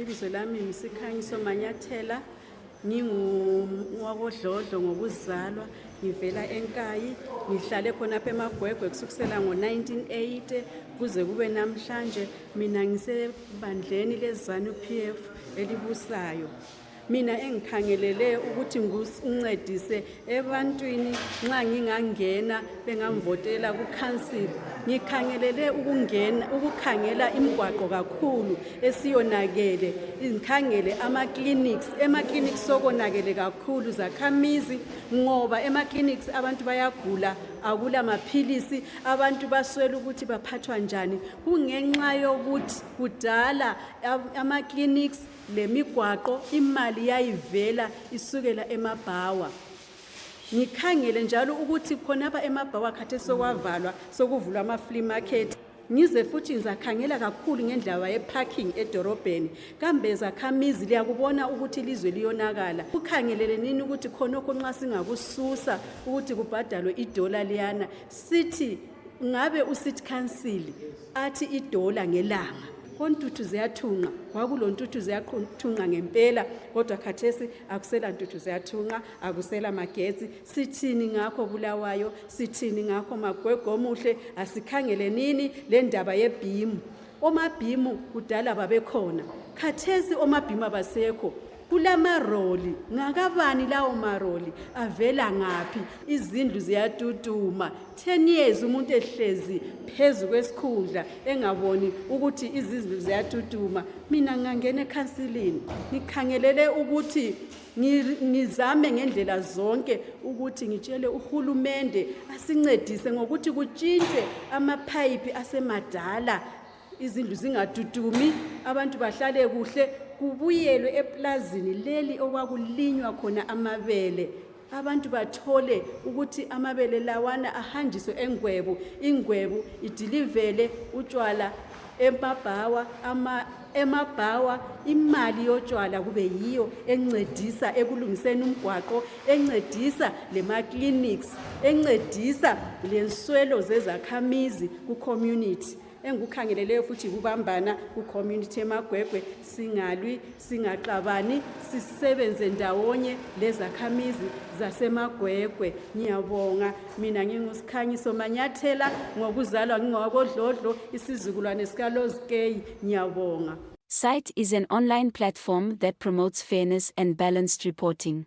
Ibizo lami ngisikhanyiso Manyathela ngingowakodlodlo ngokuzalwa ngivela enkayi ngihlale khonapha emagwegwe kusukusela ngo-1980 kuze kube namhlanje mina ngisebandleni lezanu p f elibusayo mina engikhangelele ukuthi ngincedise ebantwini nxa ngingangena bengamvotela kukhansili ngikhangelele ukungena ukukhangela imigwaqo kakhulu esiyonakele ngikhangele ama-clinics ema-clinics sokonakele kakhulu zakhamizi ngoba ema-clinics abantu bayagula akula maphilisi abantu baswela ukuthi baphathwa njani kungenxa yokuthi kudala ama-clinics lemigwaqo imali yayivela isukela emabhawa ngikhangele njalo ukuthi khonapha emabhawa khathesi sokwavalwa sokuvulwa ama-flea market ngize futhi ngizakhangela kakhulu ngendlaba yeparking edorobheni kambe zakhamizi liyakubona ukuthi ilizwe liyonakala kukhangelele nini ukuthi khonokho nxa singakususa ukuthi kubhadalwe idola liyana sithi ngabe ucity council athi idola ngelanga kontuthu ziyathunqa kwakulontuthu ziyathunqa ngempela kodwa khathesi akusela ntuthu ziyathunqa akusela magetsi sithini ngakho bulawayo sithini ngakho magwego omuhle asikhangele nini le ndaba yebhimu omabhimu kudala babekhona khathesi omabhimu abasekho kulamaroli ngakabani lawo maroli avela ngaphi izindlu ziyatutuma 10 years umuntu ehlezi phezu kwesikhundla engaboni ukuthi izindlu ziyatutuma mina ngangena ekhansilini ngikhangelele ukuthi ngizame ngendlela zonke ukuthi ngitshele uhulumende asincedise ngokuthi kutshintshwe amaphayiphi asemadala izindlu zingadudumi abantu bahlale kuhle kubuyelwe eplazini leli okwakulinywa khona amabele abantu bathole ukuthi amabele lawana ahanjiswe engwebu ingwebu idilivele utshwala emabhawa ama emabhawa imali yotshwala kube yiyo encedisa ekulungiseni umgwaqo encedisa lema-clinics encedisa lenswelo zezakhamizi ku-community engikukhangeleleyo futhi yikubambana kucommunity emagwegwe singalwi singaxabani sisebenze ndawonye lezakhamizi zasemagwegwe ngiyabonga mina ngingusikhanyiso manyathela ngokuzalwa ngingowakodlodlo isizukulwane sikalozikeyi ngiyabonga Site is an online platform that promotes fairness and balanced reporting.